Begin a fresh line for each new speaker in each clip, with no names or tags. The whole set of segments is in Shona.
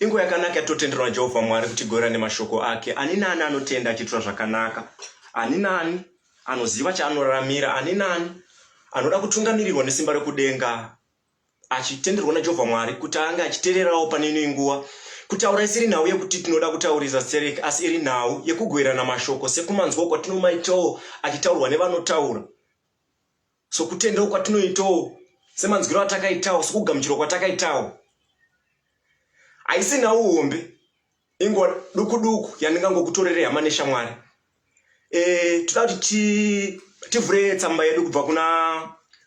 Inguva yakanaka yatotenderwa Jehovha Mwari kuti igorera nemashoko ake. Ani naani anotenda achiitwa zvakanaka, ani naani anoziva chaanoraramira, ani naani anoda kutungamirirwa nesimba rekudenga, achitenderwa naJehovha Mwari kuti ange achitererawo pane ino inguva. Kutaura isiri nhau yekuti tinoda kutaurisa stereki, asi iri nhau yekugoverana mashoko sekumanzwawo kwatinomaitawo achitaurwa nevanotaura. sokutendawo kwatinoitawo semanzwiro atakaitawo sokugamuchirwa kwatakaitawo haisi nhau hombe inguva duku duku yandingangokutorere hama neshamwari e, toda kuti tivhure tsamba yedu kubva kuna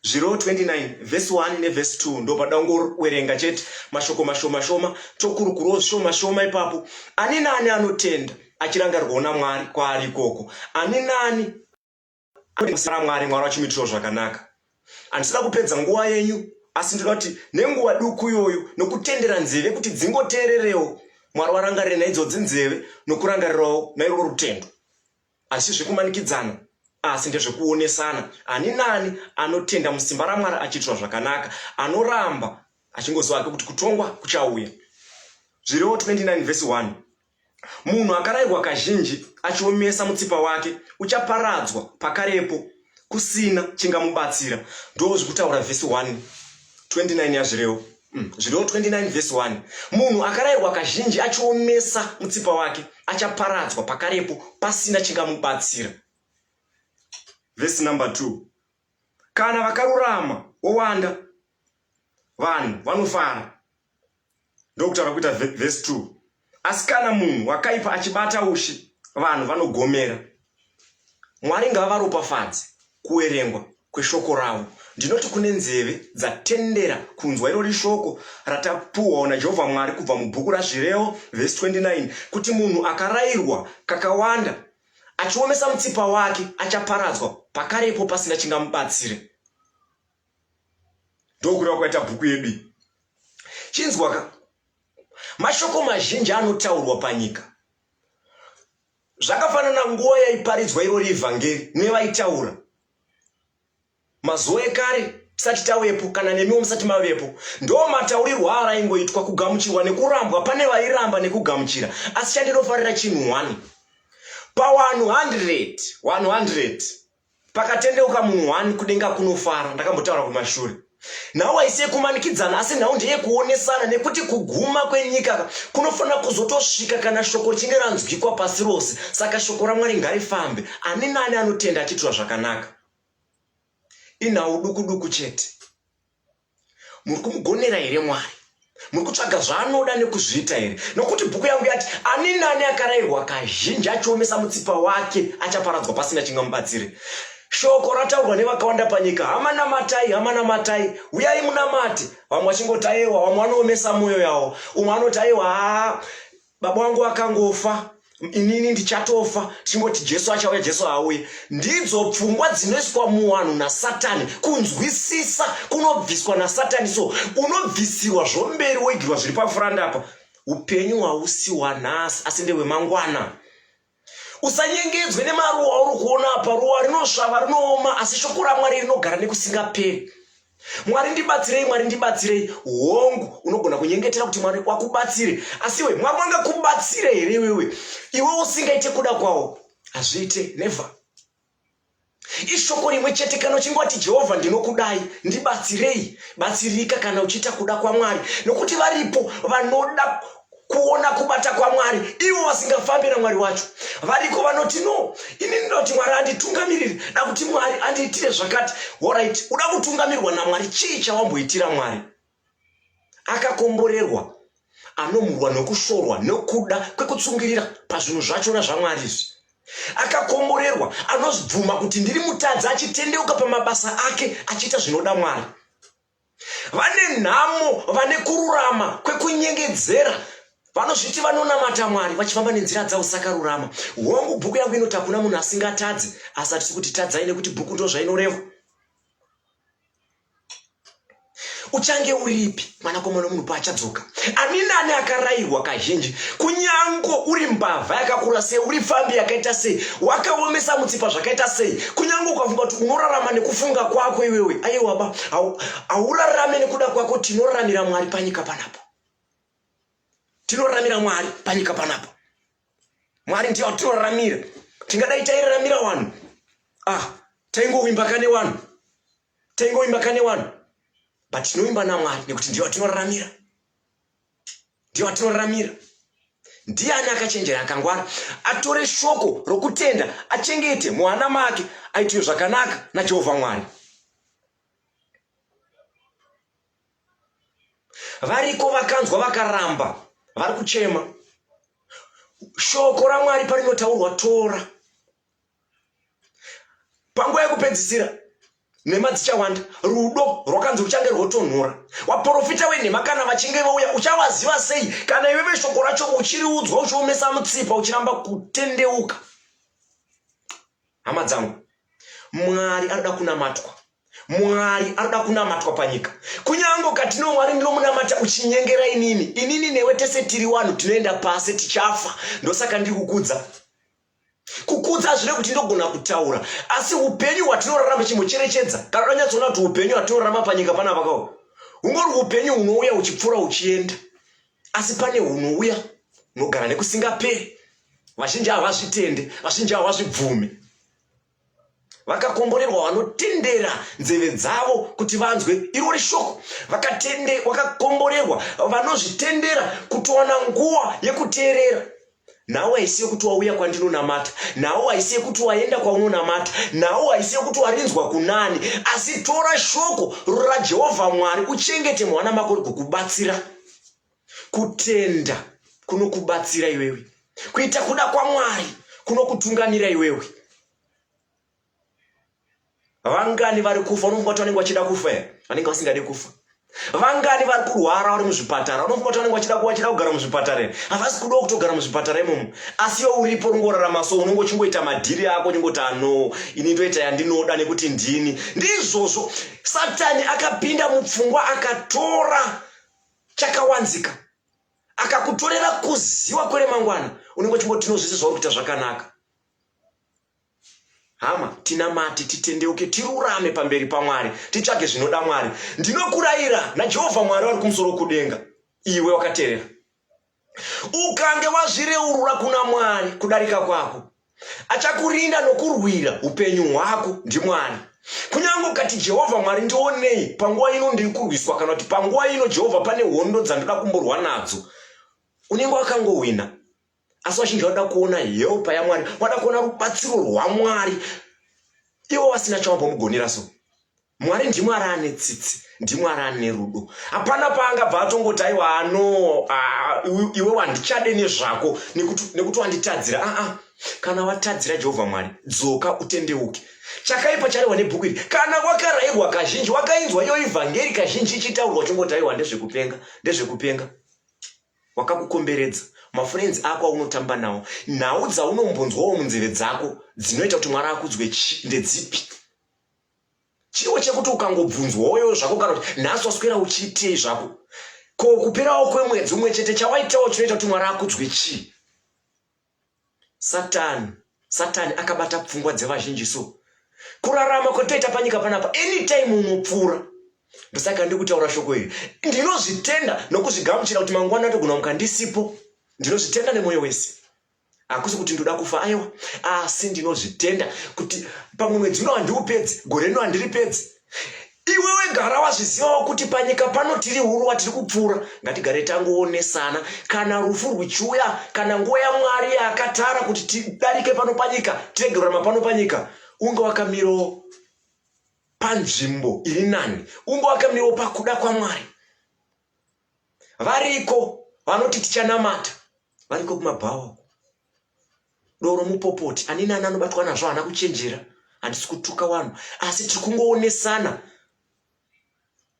zviro 29 vhesi 1 nevhesi 2 ndo pada ungowerenga chete mashoko mashoma shoma tokurukuruwo zvishoma shoma ipapo ani nani anotenda achirangarirwawo namwari kwaari ikoko ani nani Sara Mwari, Mwari wachimuitirawo zvakanaka. Handisida kupedza nguva yenyu, asi ndinoda kuti nenguva duku iyoyo nokutendera nzeve kuti dzingoteererewo Mwari warangarire naidzodzi nzeve nokurangarirawo nairwo rutendo. Hazvisi zvekumanikidzana, asi ndezvekuonesana. Ani nani anotenda musimba raMwari achiitirwa zvakanaka anoramba achingoziva hake kuti kutongwa kuchauya. Zvirewo 29 vhesi 1. Munhu akarairwa kazhinji achiomesa mutsipa wake uchaparadzwa pakarepo kusina chingamubatsira. Ndoo zviri kutaura vhesi 1 29 yazvirewo mm, zvirewo 29 vhesi 1 munhu akarairwa kazhinji achiomesa mutsipa wake achaparadzwa pakarepo pasina chingamubatsira. Vhesi number 2 kana vakarurama wowanda vanhu vanofara ndokutaura kuita vhesi 2 asi kana munhu wakaipa achibata ushi vanhu vanogomera mwari ngavaropafadze kuverengwa kweshoko ravo ndinoti kune nzeve dzatendera kunzwa irori shoko ratapuhwawo najehovha mwari kubva mubhuku razvirevo vhesi 29 kuti munhu akarayirwa kakawanda achiomesa mutsipa wake achaparadzwa pakarepo pasina chingamubatsire ndokureva kwaita bhuku yedu iyi chinzwaka mashoko mazhinji anotaurwa panyika zvakafanana nguva yaiparidzwa irori evhangeri nevaitaura mazuva ekare tisati tavepo kana nemiwo musati mavepo ndo mataurirwo aaraingoitwa kugamuchirwa nekurambwa pane vairamba nekugamuchira asi chandinofarira chinhu one pawanhu 100 100 pakatendeuka munhu one kudenga kunofara ndakambotaura kumashure nhau haisi yekumanikidzana asi nhau ndeyekuonesana nekuti kuguma kwenyika kunofanira kuzotosvika kana shoko richinge ranzwikwa pasi rose saka shoko ramwari ngarifambe ani nani anotenda achiitwa zvakanaka inhau duku duku chete Muri kumugonera here Mwari? Muri kutsvaga zvaanoda nekuzviita here? Nokuti bhuku yangu yati, Ani nani akarairwa kazhinji achiomesa mutsipa wake achaparadzwa pasina chingamubatsire. Shoko rataurwa nevakawanda panyika, hama namatai, hama namatai, uyai munamate. Vamwe vachingoti ayewa, vamwe vanoomesa mwoyo yawo. Umwe anoti ayewa, haa, baba wangu akangofa inini ndichatofa tichingoti jesu achauya jesu haauye ndidzo pfungwa dzinoiswa muwanhu nasatani kunzwisisa kunobviswa nasatani so unobvisirwa zvomberi woigirwa zviri pafurandapa upenyu hausi wanhasi asi ndewemangwana usanyengedzwe nemaruwa auri kuona apa ruwa rinosvava rinooma asi shoko ramwari rinogara nekusingaperi mwari ndibatsirei mwari ndibatsirei hongu unogona kunyengetera kuti mwari wakubatsire asi iwe mwari wangakubatsire here iwewe iwe usingaite kuda kwawo hazviite never Ishoko rimwe chete kana uchingoti Jehovha ndinokudai, ndibatsirei, batsirika kana uchiita kuda kwaMwari, nokuti varipo vanoda kuona kubata kwaMwari ivo vasingafambi naMwari wacho. Variko vanoti no, ini ndinoda kuti Mwari anditungamirire, da kuti Mwari andiitire zvakati. Horaiti, uda kutungamirwa naMwari, chii chawamboitira Mwari? akakomborerwa anomurwa nokushorwa nokuda kwekutsungirira pazvinhu zvachona zvamwari izvi akakomborerwa anobvuma kuti ndiri mutadzi achitendeuka pamabasa ake achiita zvinoda mwari vane nhamo vane kururama kwekunyengedzera vanozviti vanonamata mwari vachifamba nenzira dzavo sakarurama hongu bhuku yangu inoti hakuna munhu asingatadzi asi hatisi kuti tadzai nekuti bhuku ndozvainoreva uchange uripi mwanakomana omunhu paachadzoka ani nani akarairwa kazhinji kunyango uri mbavha yakakura sei uri pfambi yakaita sei wakaomesa mutsipa zvakaita sei kunyango ukafunga kuti unorarama nekufunga kwako iwewe aiwaba haurarame nekuda kwako tinoraramira mwari panyika panapa tinoraramira mwari panyika panapa mwari ndiyo atinoraramira tingadai tairaramira vanhu ah taingowimbaka nevanhu Taingoimba kane wani but tinoimba namwari nekuti ndiye watinoraramira ndiye watinoraramira ndiani akachenjera akangwara atore shoko rokutenda achengete muhana make aitiwe zvakanaka najehovha mwari variko vakanzwa vakaramba vari kuchema shoko ramwari parinotaurwa tora panguva yekupedzisira nhema dzichawanda rudo rwakanzi ruchange rwotonhora vaprofita wenhema kana vachinge vauya uchawaziva sei kana iwe veshoko racho uchiriudzwa uchiomesa mutsipa uchiramba kutendeuka hama dzangu mwari anoda kunamatwa mwari anoda kunamatwa panyika kunyange ukati no mwari ndinomunamata uchinyengera inini inini newe tese tiri wanhu tinoenda pasi tichafa ndosaka ndiri kukudza kukudza hazvire kuti ndogona kutaura asi upenyu hwatinorarama chimbocherechedza kana tanyatsoona kuti upenyu hwatinorarama panyika pana vakawo hungori upenyu hunouya uchipfuura uchienda asi pane hunouya hunogara nekusingaperi vazhinji havazvitende vazhinji havazvibvume vakakomborerwa vanotendera nzeve dzavo kuti vanzwe irori shoko vakatende vakakomborerwa vanozvitendera kutowana nguva yekuteerera nhau haisi yekuti wauya kwandinonamata nhau haisi yekuti waenda kwaunonamata nhau haisi yekuti warinzwa kunani asi tora shoko rajehovha mwari uchengete mwana mako rikukubatsira Kutenda kunokubatsira iwewe kuita kuda kwaMwari kunokutungamira iwewe. Vangani vari kufa unofunga kuti vanenge vachida kufa here? Vanenge vasingade kufa. Vangani vari kurwara vari muzvipatara unofunga kuti vanenge vachida kuwachida kugara muzvipatara here? Havasi kudawo kutogara muzvipatara imomo. Asi iwe uripo ungorarama so unenge uchingoita madhiri ako uchingoti ano ini ndoita yandinoda nekuti ndini. Ndizvozvo Satani akapinda mupfungwa akatora chakawanzika akakutorera kuziwa kweremangwana unenge uchingoti no zvese zvauri kuita zvakanaka hama tinamate titendeuke tirurame pamberi pamwari titsvage zvinoda mwari ndinokurayira najehovha mwari wari kumusoro kudenga iwe wakaterera ukange wazvireurura kuna mwari kudarika kwako achakurinda nokurwira upenyu hwako ndimwari kunyange ukati jehovha mwari ndionei panguva ino ndiri kurwiswa kana kuti panguva ino jehovha pane hondo dzandoda kumborwa nadzo unenge wakangohwina asi vazhinji vanoda kuona helpa yamwari vanoda kuona rubatsiro rwamwari ivo vasina chawambomugonera so Mwari ndimwari ane tsitsi ndimwari ane rudo hapana paangabva atongoti aiwa ano iwe wandichade nezvako nekuti wanditadzira aa kana watadzira jehovha mwari dzoka utendeuke chakaipa charehwa nebhuku iri kana wakarairwa kazhinji wakainzwa iyo ivhangeri kazhinji ichitaurwa chongoti aiwa ndezvekupenga ndezvekupenga wakakukomberedza mafurenzi ako aunotamba nawo nhau dzaunombonzwawo munzeve dzako dzinoita kuti mwari akudzwe chi ndedzipi chiwo chekuti ukangobvunzwa woyo zvako kana kuti nhasi waswera uchiitei zvako ko kuperawo kwemwedzi umwe chete chawaitawo chinoita kuti mwari akudzwe chii satani satani akabata pfungwa dzevazhinji so kurarama kwatoita panyika panapa anytime unopfuura ndosaka ndi kutaura shoko iri ndinozvitenda nokuzvigamuchira kuti mangwana atogona mukandisipo ndinozvitenda nemwoyo wese hakusi kuti ndoda kufa aiwa asi ndinozvitenda kuti pamwe mwedzi uno handiupedzi gore rino handiripedzi iwewe gara wazvizivawo kuti panyika pano tiri huruwa tiri kupfuura ngatigare tangoonesana kana rufu rwichiuya kana nguva yamwari yaakatara kuti tidarike pano panyika tirege kurama pano panyika unge wakamirawo panzvimbo iri nani unge wakamirawo pakuda kwamwari variko vanoti tichanamata variko kumabhawa uko doro mupopoti ani nani anobatwa nazvo haana kuchenjera handisi kutuka vanhu asi tiri kungoonesana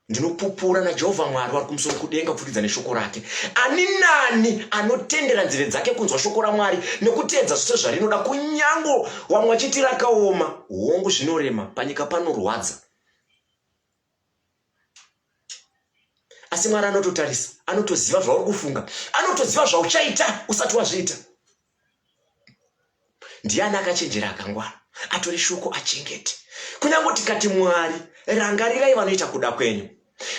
ndinopupura najehovha mwari wari kumusoro kudenga kupfurikidza neshoko rake ani nani anotendera nzeve dzake kunzwa shoko ramwari nekuteedza zvose zvarinoda kunyango wamwe achiti rakaoma hongu zvinorema panyika panorwadza asi mwari anototarisa anotoziva zvauri kufunga anotoziva zvauchaita usati wazviita ndiani akachenjera akangwara atore shoko achengete kunyange tikati mwari rangarirai vanoita kuda kwenyu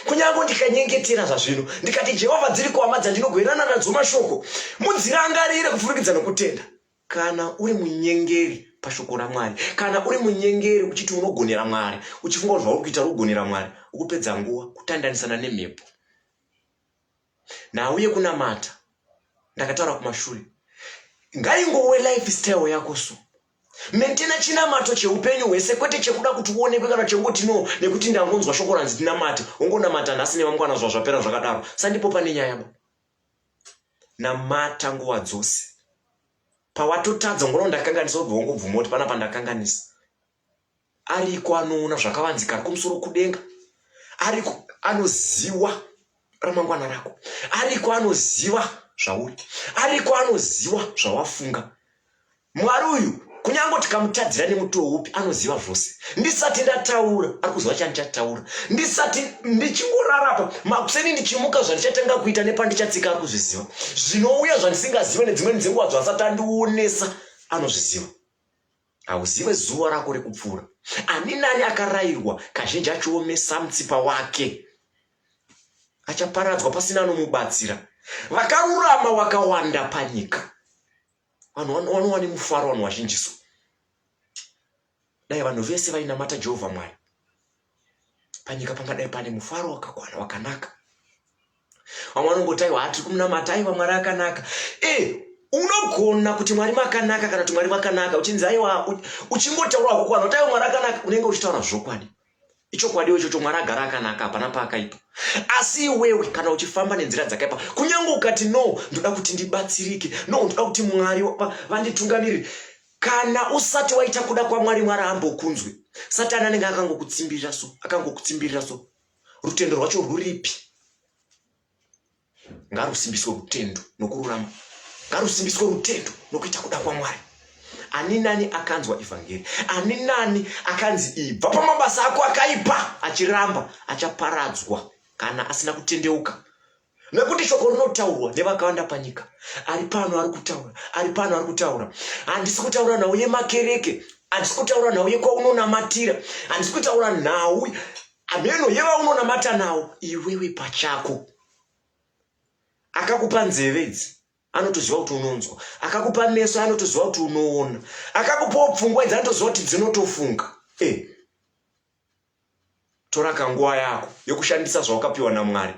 kunyange ndikanyengetera zvazvino ndikati jehovha dziri kuhama dzandinogoerana nadzo mashoko mudzirangarire kupfurikidza nokutenda Kana uri munyengeri pashoko raMwari, kana uri munyengeri uchiti unogonera Mwari, uchifunga kuti zvauri kuita uri kugonera Mwari, ukupedza nguva kutandanisana nemhepo. Nhau yekunamata ndakataura kumashure, ngaingowe life style yako so mentena chinamato cheupenyu hwese kwete chekuda kuti uonekwe kana chekungoti no nekuti ndangonzwa shoko ranzi tinamate wongonamata nhasi nevamkwana zva zvapera zvakadaro sandipopa nenyaya ba Namata nguva dzose. Pawatotadza ungona ndakanganisa ubva wangobvuma kuti pana pandakanganisa. Ariko anoona zvakavanzika ari kumusoro kudenga. Ariko anoziwa ramangwana rako. Ariko anoziva zvauri. Ariko anoziwa zvawafunga. Mwari uyu kunyange tikamutadzira nemutowo upi anoziva zvose ndisati ndataura ari kuziva chandichataura ndisati ndichingorarapa makuseni ndichimuka zvandichatanga kuita nepandichatsika ari kuzviziva zvinouya zvandisingazive nedzimweni dzenguva zvasati andionesa anozviziva hauzive zuva rako rekupfuura ani nani akarayirwa kazhinji achiomesa mutsipa wake achaparadzwa pasina anomubatsira vakarurama wakawanda panyika vanhu vanowa nemufaro vanhu vazhinjiso dai vanhu vese vainamata jehovha mwari panyika pangadai pane mufaro wakakwana wakanaka vamwe vanongoti aiwa hatiri kumunamata aiwa mwari akanaka e unogona kuti mwari makanaka kana kuti mwari makanaka uchinzi aiwa uchingotaura kukwana kuti aiwa mwari akanaka unenge uchitaura zvokwadi ichokwadiwo ichocho mwari agara akanaka hapana paakaipa asi iwewe kana uchifamba nenzira dzakaipa kunyange ukati no ndoda kuti ndibatsirike no ndoda kuti mwari vanditungamirire kana usati waita kuda kwamwari mwari ambokunzwi satani anenge akangokutsimbirira so akangokutsimbirira so rutendo rwacho rwuripi ngarusimbiswe rutendo nokururama ngarusimbiswe rutendo nokuita kuda kwamwari ani nani akanzwa evhangeri ani nani akanzi ibva pamabasa ako akaipa achiramba achaparadzwa kana asina kutendeuka nekuti shoko rinotaurwa nevakawanda panyika ari pano ari kutaura ari pano ari kutaura handisi kutaura nhau yemakereke handisi kutaura nhau yekwaunonamatira handisi kutaura nhau Hameno yevaunonamata nawo iwewe pachako. Akakupa nzeve idzi anotoziva kuti unonzwa, akakupa meso anotoziva kuti unoona, akakupawo pfungwa idzi anotoziva kuti dzinotofunga. Hey. Eh. Tora kanguva yako yokushandisa zvawakapiwa naMwari.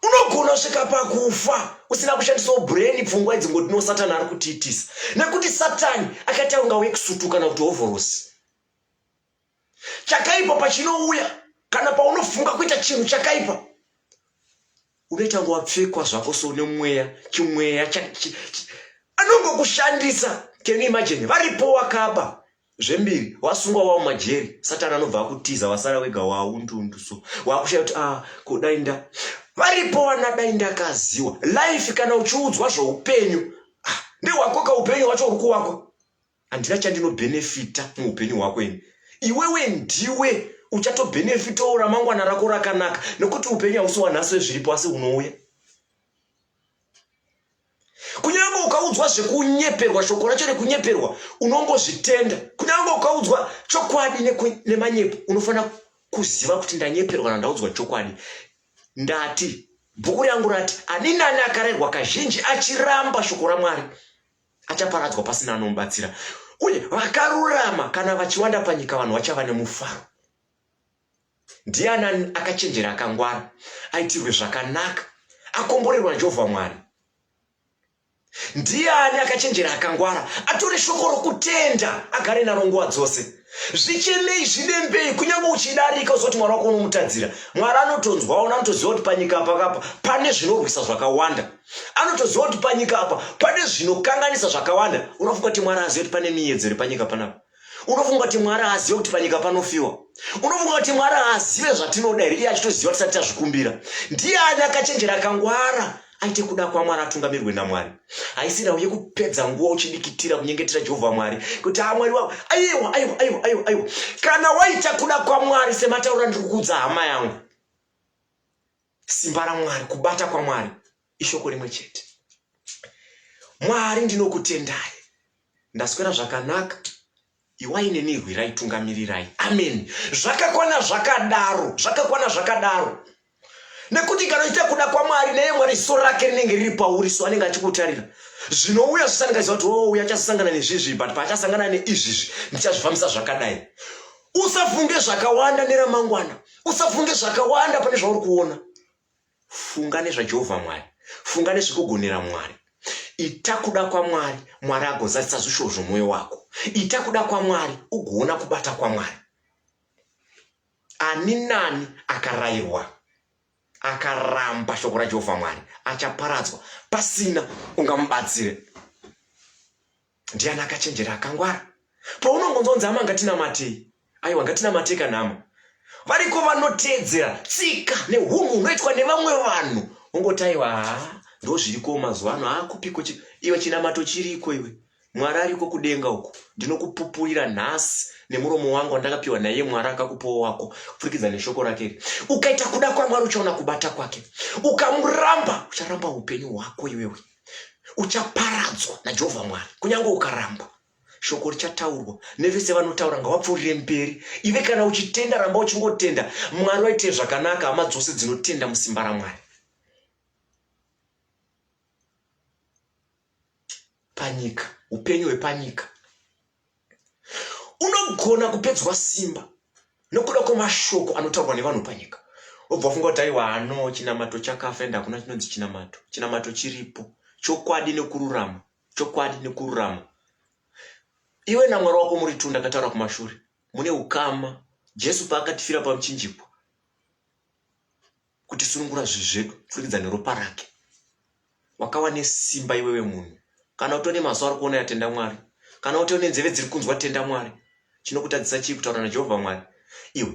Unogona svika pakufa usina kushandisawo brain pfungwa idzi ngoti no satani ari kutiitisa nekuti satani akaita kunga wekusutu kana kuti hovhorosi. chakaipa pachinouya kana paunofunga kuita chinhu chakaipa unoita ngo wapfekwa zvako so nemweya chimweya anongokushandisa can you imagine varipo wakaba zvembiri wasungwa wavo majeri satani anobva akutiza wasara wega waundundu so wakushaya kuti a ah, kudai nda varipo vana dai ndakaziwa life kana uchiudzwa zvoupenyu ah, ndewakoka upenyu wacho uri kuwako handina chandinobenefita muupenyu hwako ini iwewe ndiwe uchatobenefitawo ramangwana rako rakanaka nokuti upenyu hausi wanhasi wezviripo asi unouya kunyange ukaudzwa zvekunyeperwa shoko racho rekunyeperwa unongozvitenda kunyange ukaudzwa chokwadi nemanyepo unofanira kuziva kuti ndanyeperwa nandaudzwa chokwadi ndati bhuku rangu rati ani nani akarerwa kazhinji achiramba shoko ramwari achaparadzwa pasina anomubatsira uye vakarurama kana vachiwanda panyika vanhu vachava nemufaro ndiani akachenjera akangwara aitirwe zvakanaka akomborerwa najehovha mwari ndiani akachenjera akangwara atore shoko rokutenda agare naro nguva dzose zvichemei zvivembei kunyange uchidarika uzoti mwari wako unomutadzira mwari anotonzwa ona anotoziva kuti panyika apa kapa pane zvinorwisa zvakawanda anotoziva kuti panyika apa pane zvinokanganisa zvakawanda unofunga kuti mwari aziva kuti pane miyedzo iri panyika panapa unofunga kuti mwari azive kuti panyika panofiwa unofunga kuti mwari azive zvatinoda here iye achitoziva tisati tazvikumbira ndiye ani akachenjera akangwara aite kuda kwamwari atungamirwe namwari haisi nhau yekupedza nguva uchidikitira kunyengetera jehovha mwari kuti haa mwari wavo aiwa aiwa aiwa aiwa aiwa kana waita kuda kwamwari semataura ndiri kukuudza hama yangu simba ramwari kubata kwamwari ishoko rimwe chete mwari ndinokutendai Ndaswera zvakanaka iwai neni rwirai tungamirirai amen zvakakwana zvakadaro zvakakwana zvakadaro nekuti kana uchiita kuda kwamwari neye mwari ziso rake rinenge riri pauri so anenge achikutarira zvinouya zvisangaziva kuti ouya oh, achasangana nezvizvi but paachasangana neizvizvi ndichazvifambisa zvakadai usafunge zvakawanda neramangwana usafunge zvakawanda pane zvauri kuona funga nezvajehovha mwari funga nezvekugonera mwari ita kuda kwamwari mwari agozadzisa zvishuwo zvomwoyo wako ita kuda kwamwari ugoona kubata kwamwari ani nani akarayirwa akaramba shoko rajehovha mwari achaparadzwa pasina ungamubatsire Ndiani akachenjera akangwara? Paunongonzwa kunzi hama ngatinamatei, aiwa ngatinamatei kana hama variko vanoteedzera tsika nehunhu hunoitwa nevamwe vanhu ongotaiwa haa ndo zviriko mazuva ano haakupiko iwe chinamato chiriko iwe mwari ariko kudenga uko ndinokupupurira nhasi nemuromo wangu wandakapiwa naiye mwari akakupawo wako kupfurikidza neshoko rake iri ukaita kuda kwamwari uchaona kubata kwake ukamuramba ucharamba upenyu hwako iwewe uchaparadzwa najehovha mwari kunyange ukaramba shoko richataurwa nevese vanotaura ngavapfuurire mberi ive kana uchitenda ramba uchingotenda mwari waitee zvakanaka hama dzose dzinotenda musimba ramwari panyika upenyu hwepanyika unogona kupedzwa simba nokuda kwemashoko anotaurwa nevanhu panyika obva funga kuti aiwa ano chinamato chakafa ende hakuna chinonzi chinamato chinamato chiripo chokwadi nekururama chokwadi nekururama iwe namwari wako muri tunda akataura kumashure mune ukama jesu paakatifira pamuchinjikwa kutisunungura zvivi zvedu kupfurikidza neropa rake wakawa nesimba iwewe munhu kana utone mazuva ari kuona yatenda mwari kana uti une nzeve dziri kunzwa tenda mwari chinokutadzisa chii kutaura najehovha mwari iwe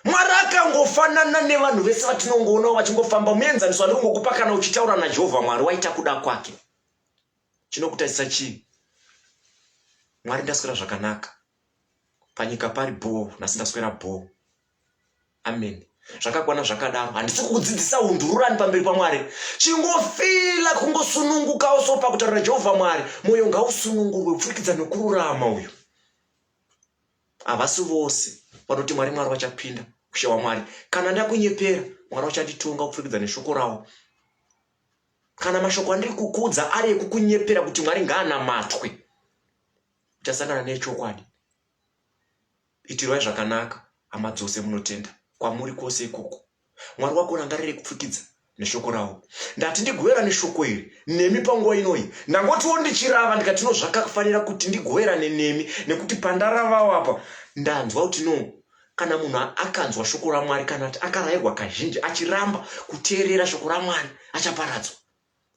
mwari akangofanana nevanhu vese vatinongoonawo vachingofamba muenzaniso ane kungokupa kana uchitaura najehovha mwari waita kuda kwake chinokutadzisa chii mwari ndaswera zvakanaka panyika pari bhoo nhasi ndaswera bhoo amen zvakakwana zvakadaro handisi kukudzidzisa undururani pamberi pamwari chingofila kungosunungukawo so pakutaurira jehovha mwari mwoyo ngausunungurwe kupfurikidza nokururama uyu havasi vose vanoti mwari mwari vachapinda kushewa mwari kana ndakunyepera mwari vachanditonga kupfurikidza neshoko ravo kana mashoko andiri kukudza ari ekukunyepera kuti mwari ngaanamatwe uchasangana nechokwadi Itirwai zvakanaka, hama dzose munotenda kwamuri kwose ikoko. Mwari wako rangarirei kupfukidza neshoko rawo. Ndati ndigoverane shoko iri nemi panguva inoyi, ndangotiwo ndichirava ndikati no zvakafanira kuti ndigoverane nemi, nekuti pandaravawo apa ndanzwa kuti no kana munhu akanzwa shoko raMwari kana kuti akarairwa kazhinji achiramba kuteerera shoko raMwari achaparadzwa.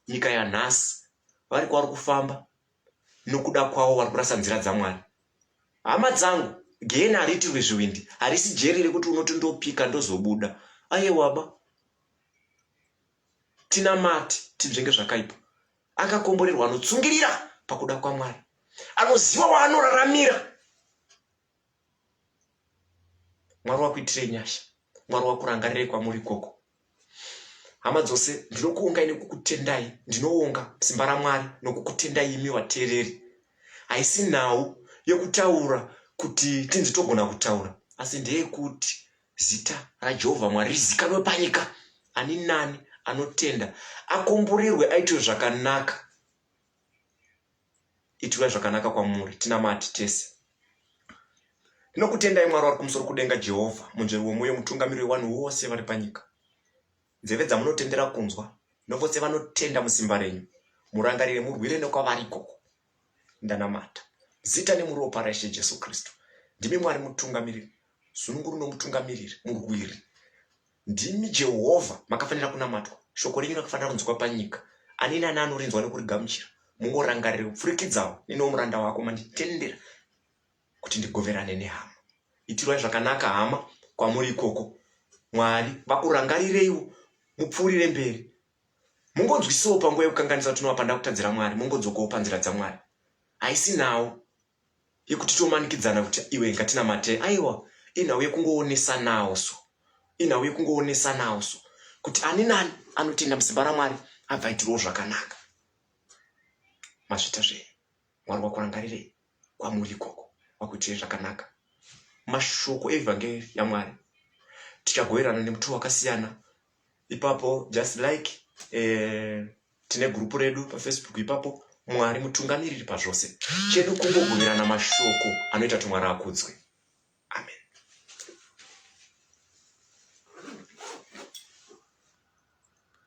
Nyika yanhasi vari kwavari kufamba nokuda kwavo vari kurasa nzira dzamwari hama dzangu gehena hariitirwe zviwindi harisi jeri rekuti unoti ndopika ndozobuda aye waba tina mati tinzvenge zvakaipa akakomborerwa anotsungirira pakuda kwamwari anoziva waanoraramira Mwari wakuitire nyasha. Mwari wakurangarire kwamuri ikoko. Hama dzose ndinokuongai nekukutendai. Ndinoonga simba raMwari nokukutendai imi vateereri. Haisi nhau yokutaura kuti tinzi togona kutaura asi ndeyekuti zita raJehovha Mwari rizikanwe panyika. Ani nani anotenda akomborerwe aitwe zvakanaka. Itirai zvakanaka kwamuri, tinamati tese. Ndinokutendai Mwari wari kumusoro kudenga, Jehovha, munzveri womwoyo, mutungamiri wevanhu vose vari panyika. Nzeve dzamunotendera kunzwa, novose vanotenda musimba renyu, murangarire, murwire nekwavari ikoko. Ndanamata zita nemuropa raIshe Jesu Kristu. Ndimi Mwari mutungamiriri, zununguru nomutungamiriri, murwiri. Ndimi Jehovha, makafanira kunamatwa, shoko renyu rakafanira kunzwikwa panyika. Ani nani anorinzwa nokurigamuchira, mungorangarire kupfurikidzawo neniwo muranda wako manditendera kuti ndigoverane nehama. Itirwai zvakanaka hama kwamuri ikoko, Mwari vakurangarireiwo mupfuurire mberi. Mungonzwisisawo panguva yekukanganisa kuti unova pandakutadzira Mwari, mungodzokawo panzira dzaMwari. Haisi nhau yekuti tomanikidzana kuti iwe ngatinamate aiwa inhau yekungoonesanawo so inhau yekungoonesanawo so kuti ani nani anotenda musimba ramwari abva itirowo zvakanaka mazvita zvee mwari wakurangarirei kwamuri ikoko wakuitirei zvakanaka mashoko evhangeri yamwari tikagoverana nemutuwo wakasiyana ipapo just like eh, tine gurupu redu pafacebook ipapo mwari mutungamiriri pazvose chedu kungogumirana mashoko anoita kuti mwari akudzwe amen